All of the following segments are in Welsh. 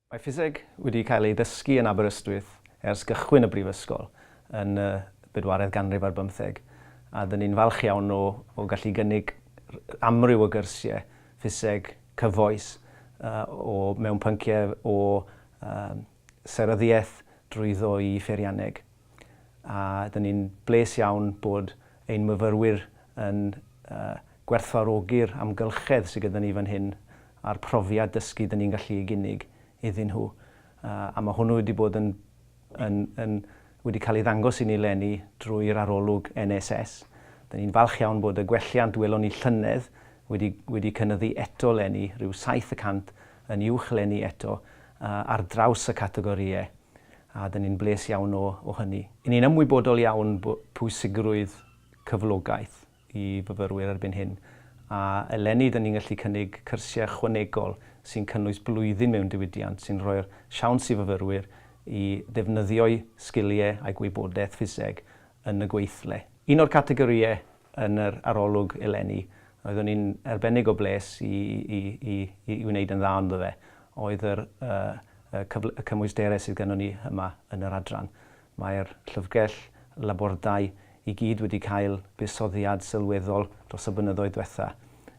Mae ffiseg wedi cael ei ddysgu yn Aberystwyth ers gychwyn y brifysgol yn y bedwaredd ganrif ar bymtheg, a dŷn ni'n falch iawn o o gallu gynnig amryw o gyrsie ffiseg cyfoes o mewn pyncie o seryddiaeth drwyddo i pheirianneg. a dyn ni'n bles iawn bod ein myfyrwyr yn gwerthfawrogi'r amgylchedd sydd gyda ni fan hyn a'r profiad dysgu dyn ni'n gallu ei gynnig iddyn nhw, a mae hwnnw wedi bod yn yn yn wedi cael ei ddangos i ni leni drwy'r arolwg NSS. Dyn ni'n falch iawn bod y gwelliant welon ni llynedd wedi wedi cynyddu eto leni, rhyw saith y cant yn uwch leni eto ar draws y categorïau a dyn ni'n bles iawn o o hynny. Yn ni'n ymwybodol iawn bo pwysigrwydd cyflogaeth i fyfyrwyr erbyn hyn, a eleni dyn ni'n gallu cynnig cyrsiau ychwanegol sy'n cynnwys blwyddyn mewn diwydiant sy'n rhoi'r siawns i fyfyrwyr i ddefnyddio'u sgiliau a'u gwybodaeth ffiseg yn y gweithle. Un o'r categorïau yn yr arolwg eleni, roeddwn i'n arbennig o bles i i i i i wneud yn dda ynddo fe, oedd yr y y cyfl- y cymwysterau sydd gynnon ni yma yn yr adran. Mae'r llyfrgell labordai i gyd wedi cael buddsoddiad sylweddol dros y blynyddoedd dwetha,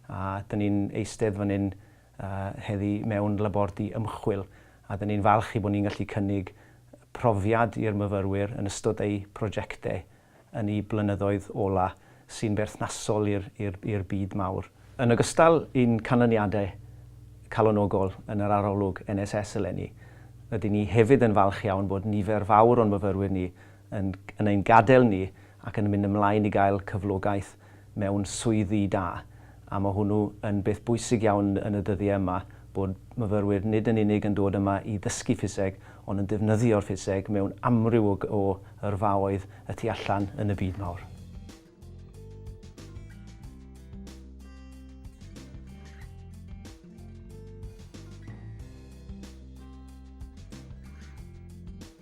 a 'dyn ni'n eistedd fan hyn y heddi mewn labordy ymchwil, a 'dyn ni'n falch ei bod ni'n gallu cynnig profiad i'r myfyrwyr yn ystod eu prosiectau yn y blynyddoedd ola' sy'n berthnasol i'r i'r i'r byd mawr. Yn ogystal i'n canlyniadau calonogol yn yr arolwg NSS eleni, rydyn ni hefyd yn falch iawn bod nifer fawr o'n myfyrwyr ni yn yn ein gadael ni ac yn mynd ymlaen i gael cyflogaeth mewn swyddi da, a mae hwnnw yn beth bwysig iawn yn y dyddiau yma, bod myfyrwyr nid yn unig yn dod yma i ddysgu ffiseg, ond yn defnyddio'r ffiseg mewn amryw o o yrfaoedd y tu allan yn y byd mawr.